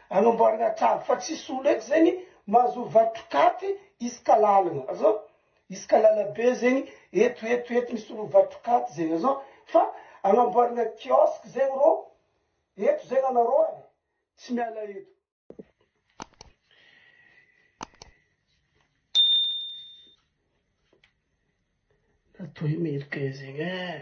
Anamboarana trano fa tsisy olo eto zegny mahazo vatrokaty isaka lalagna azoo isaka lalabe zegny eto eto eto misy olo vatrokaty zegny azoo fa anamboarana kiosque zegny rô eto zegny anarô e tsy miala eto. Natao i Americain zegny eh.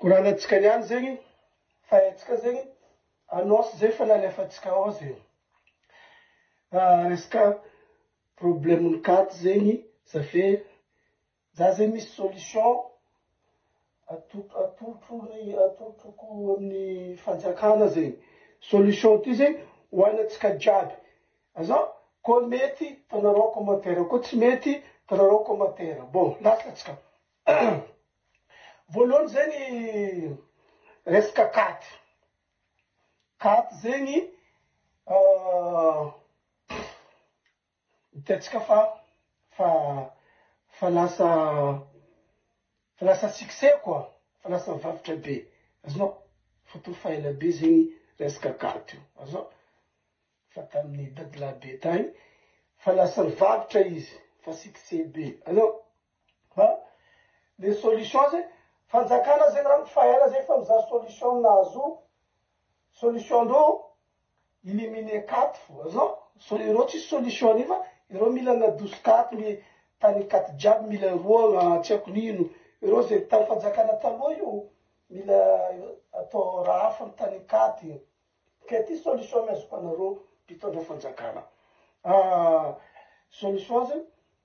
Koranantsika ihany zegny fa haintsika zegny annonce zay fa nalefantsika ao zegny. Resaka problème-n'ny carte zegny za fe za zegny misy solution ato- atolotro ny atolotroko amin'ny fanjakana zegny. Solution ty zegny ho anantsika jiaby azan koa mety ataonareo commentaire koa tsy mety ataonareo commentaire bon lasa tsika. Voalohany zay ny resaka carte, carte zegny hitantsika fa fa fa lasa fa lasa succès quoi, fa lasa varotra be, azonao, fa to fa ela be zegny resaka carte io, azonao, fa tamin'ny dadilahy be tagny, fa lasa nivarotra izy, fa succès be, azonao. An! Le solution zay, fanjakana zay na ny faela zay efa mizaha solution ny nahazo solution ndreo illiminer cat fo non so ireo tsisy solution an'io fa ireo mila nadoso cat ny tany cat jiaby mila roagna tsy aiko nino ireo zay tany fanjakana taloha io mila atao raha hafa ny tany cat ke ty solution ny azoko anareo mpitondra fanjakana solution zay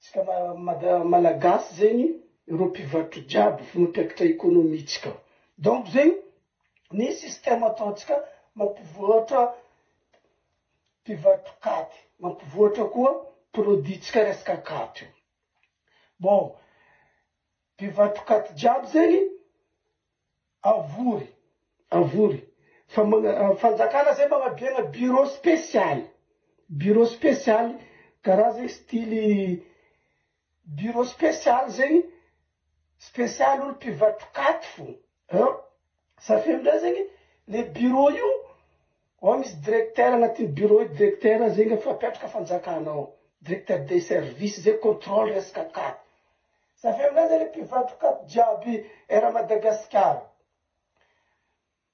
Tsika Malagasy zegny ireo mpivarotro jiaby fo mampiakatra economie tsika donc zegny ny système ataontsika mampivoatra mpivarotro katy mampivoatra koa produit tsika resaka katy io bon mpivarotro katy jiaby zegny Avory, avory, fa magna, fanjakana zay magnabiagna bureau spécial, bureau spécial, karaha zegny style bureau spécial zegny, spécial olo mpivatrokaty fô, an, safio ndray zegny le bureau io Ao misy directeur anatin'ny bureau io directeur zegny efa apetraka fanjakana ao directeur des services zay controle resaka cad za avy eo aminay zany mpivarotra cad jiaby era madagasikara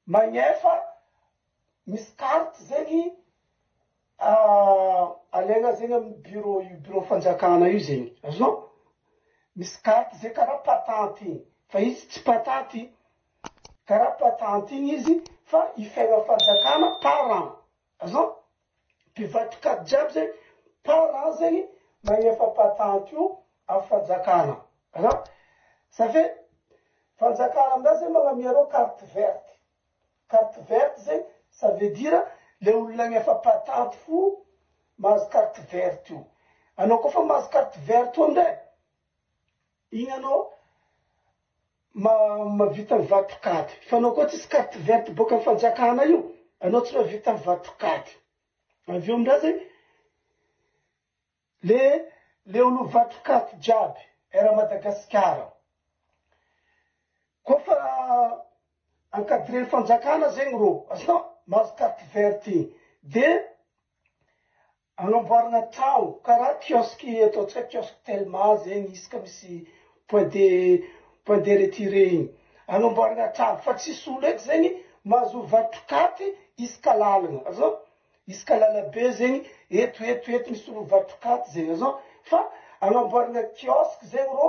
magnefa misy carte zegny alaina zegny amin'ny bureau io bureau fanjakana io zegny azonao misy carte zay kara patente igny fa izy tsy patente. Karapa tantine izy fa i fiainan'ny fanjakana parent azan mpivadika jiaby zegny parent zegny magnefa patente io amy fanjakana azan ça fait fanjakana aminah zegny magnamia anao carte verte carte verte zegny ça veut dire le olona agnefa patente fo mahazo carte verte io anao koa fa mahazo carte verte io ndray igny anao Ma mavita ny vato kady fa anao koa tsisy carte verte boka am fanjakana io anao tsy mavita ny vato kady avy eo amindray zay le le olo vato kady jiaby era madagasikara koa fa encadreny fanjakana zegny rô azonao mahazo carte verte igny de Anamboarana trao karaha kiosque eto antsay kiosque telma zegny izy ka misy point de point de retire igny anamboarana trano fa tsisy olo eto zegny mahazo varotra katy isaka lalagna azao isaka lalabe zegny eto eto eto misy olo mivarotra katy zegny azao fa anamboarana kiosque zegny rô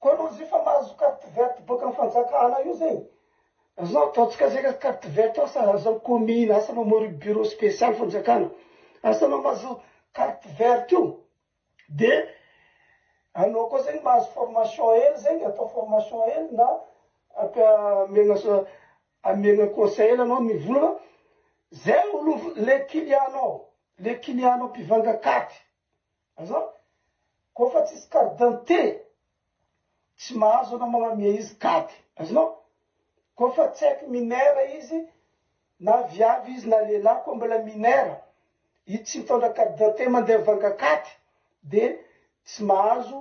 Koa aloha izy io fa mahazo carte verte boaka am fanjakana io zay zao ataontsika zay ka carte verte asa aza am commune asa anao mori bureau special fanjakana asa anao mahazo carte verte io de anao koa zegny mahazo formation hely zegny atao formation hely na ampiha amegna so amegna conseil anao ny vola zay olo le client nao le client nao mpivanga carte Azafady, koa fa tsisy carte d'identité tsy mahazo anao mamamia izy kady, azonao? Koa fa tsy haiko minera izy na viavy izy na lehilahy koa mbola minera izy tsy mitondra carte d'identité mandeha mivanga kady dia tsy mahazo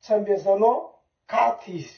tsy ambiazanao kady izy.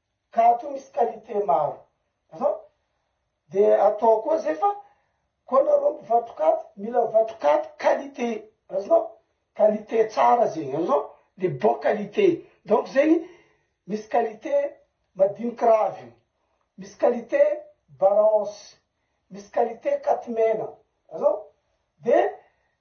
ka ato misy qualité maro azao de atao koa zay fa koa nareo mpivatrokaty mila vatrokaty qualité azonao qualité tsara zegny azonao le bon qualité donc zegny misy qualité madiniky raviny misy qualité baranse misy qualité katy mena azao de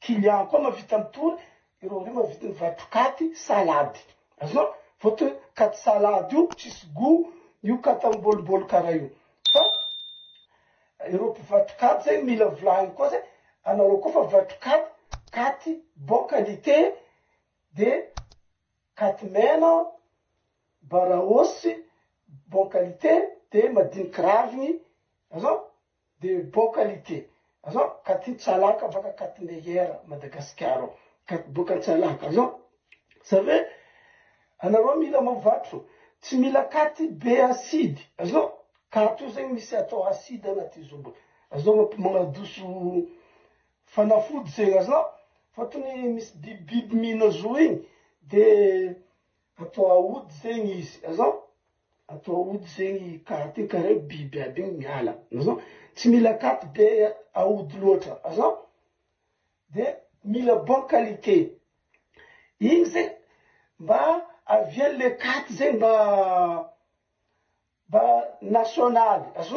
Kilian koa mavita mitory ireo reo mavita mivarotra katy salady azonao votre katy salady io tsisy gout io katy am boliboly kara io fa ireo mpivarotra katy zay mila volahiny koa zay anareo koa fa mivarotra katy katy bon qualité de katy mena baraosy bon qualité de madiniky raviny azonao de bon qualité azao katy tsalaka baka katy meilleur Madagascar ao katy boka tsalaka azao zany hoe anareo mila mavatro tsy mila katy be acide azao katy io zegny misy atao acide anaty izy io mba azao mamp magnadoso fanafody zegny azao fotony misy bibibiby mihina zo igny de atao aody zegny izy azao. Atao aody zegny carte kare biby aby igny miala azn tsy mila carte be aody loatra azn de mila bon qualité igny zegny mba aviany le carte zegny mba nationaly azn.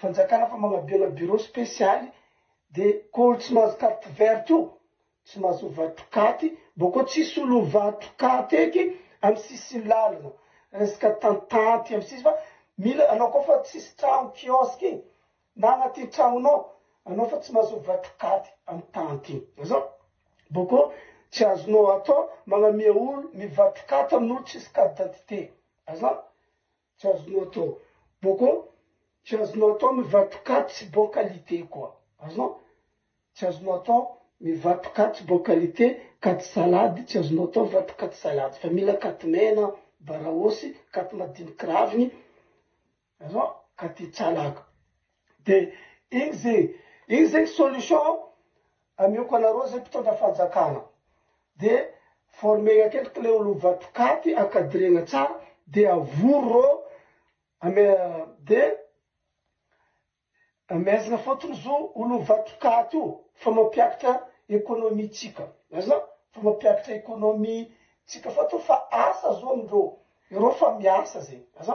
Fanjakana fa manabela bureau spesialy de ko olo tsy mahazo carte verte io tsy mahazo ovatrokaty bo ko tsisy olo ovatrokaty eky am sisin lalana resaka tantanty am sisy fa mila anao ko fa tsisy tragno kiosque igny na agnaty tragnonao anao fa tsy mahazo ovatrokaty am tanty igny zao bo ko tsy azonao atao magnamia olo mivatrokaty amin olo tsisy carte d'identité azan Tsy azonao atao boko, tsy azonao atao mivatoka tsy bon qualité koa. Azonao? Tsy azonao atao mivatoka tsy bon qualité, katy salade, tsy azonao atao mivatoka katy salade fa mila katy mena, baraosy, katy madiniky raviny, azonao? katy tsalaka. De iny ze, iny zegny solution amioko anareo ze mpitondra fanjakana de former akendriky le olo vatokaty encadrena tsara de avory reo ame de amehezana fotony zo olo vatokaty io fa mampiakatra economie tsika aza fa mampiakatra economie tsika fotony fa asa zo amindreo, ireo fa miasa zegny aza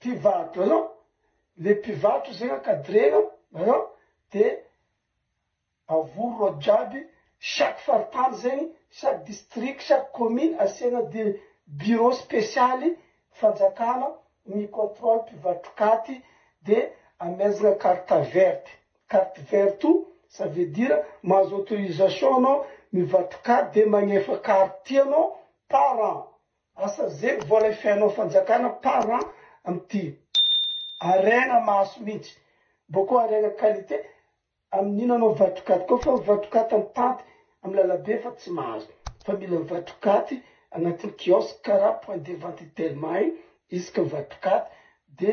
Mpivady an, le mpivarotra zegny ankadrena an, de avory reo jiaby chaque faritany zegny, chaque district, chaque commune asiana de bureau spesialy fanjakana mi controle mpivatrokaty de amezagna carte verte, carte verte o ça veut dire mahazo autorisation anao mivatrokaty de magnefa carte ty anao par an Asa zay vao lay fihaino fanjakana par an amty harena maso mintsy boko harena qualite aminio nanao vatokaty ko fa vatokaty mitanty am lalabe fa tsy mahazo fa mila vatokaty anatin kiosque kara point de vente telma in isaka vatokaty de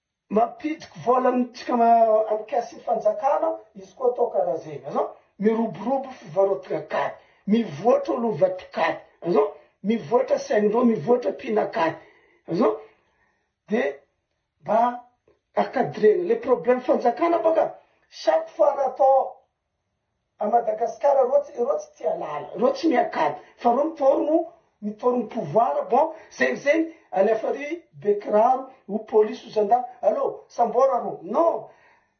Mampidiko vola amintsika amin'ny caisse fanjakana izy koa atao karaha zegny azao miroborobo fivarotagna kary mivoatra olo vato kary azao mivoatra saindrô mivoatra mpina kary azao de mba a cadrena le problème fanjakana bôka chaque fois raha atao A Madagascar reo tsy reo tsy tia lala reo tsy miankady fa reo mitaorogno mitaorogno pouvoir bon zegny zegny alefa ry be kiraro ou police ou zandary allo sambora reo non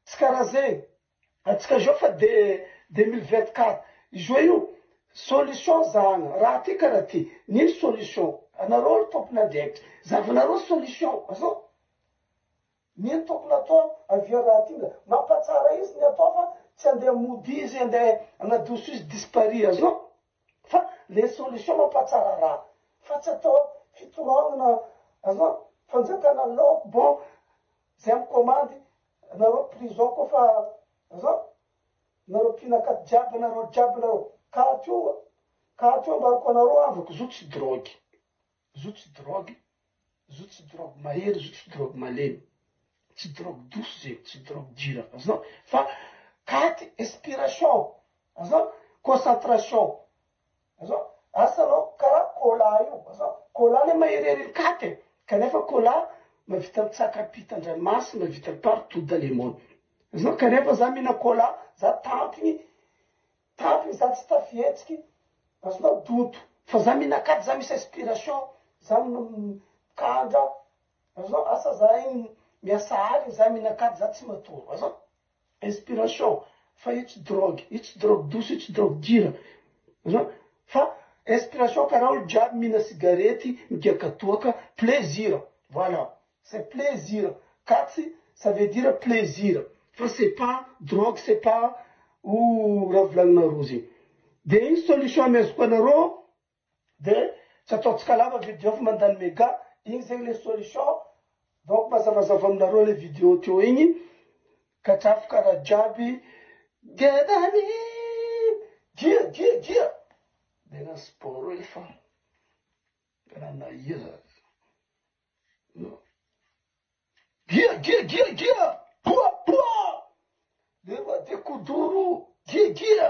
tsy kara zegny atsika zao fa de deux mille vingt quatre izoa io solution zahagna raha ty kara ty nino solution anareo ry tompon'andraikitry zahavanareo solution azoo. Ny tokony atao avy eo raha tiana mampatsara izy ny atao fa tsy andeha mody izy andeha hanadoso izy dispari azy eo fa le solution mampatsara raha fa tsy atao fitoragnana azy eo fanjakana lock bon zay am komandy nareo prison ko fa azy eo nareo mpihina akaty jiaby nareo jiaby nareo katy io katy io ambarako anareo andro kizo tsy drogue. Zo tsy drogue, zo tsy drogue mahery, zo tsy drogue malemy. Tsy drogue douce zegny, tsy drogue dure, azonao? Fa katy inspiration, azonao? Concentration, azonao? Asa anao karaha cola io, azonao? Cola le maherihery ny katy e, kanefa cola mahavita mitsaka pita an-dranomasy, mahavita partout dans le monde. Azonao? Kanefa za mihina cola, za tantiny, Tato izaho tsy tafihetsiky azonao douto. Fa za minakatry za misy inspiration za mikandra azonao asa zahay miasa aliny za minakatry za tsy matory azonao inspiration fa io tsy drogue io tsy drogue douce io tsy drogue dure azonao fa inspiration karaha olo jiaby mihina sigarety migiaka toaka plaisir voilà C'est plaisir katsy ça veut dire plaisir fa c'est pas drogue c'est pas o raha volagninareo zegny de igny solution amezako anareo de tsy ataontsika lava video fa mandany mega igny zegny le solution donc mazavazava aminareo le video teo igny katrafo karaha jiaby gedany dia dia dia de na sport efa raha na ia zany. Gia gia gia gia poa poa Lema de kuduru gia gia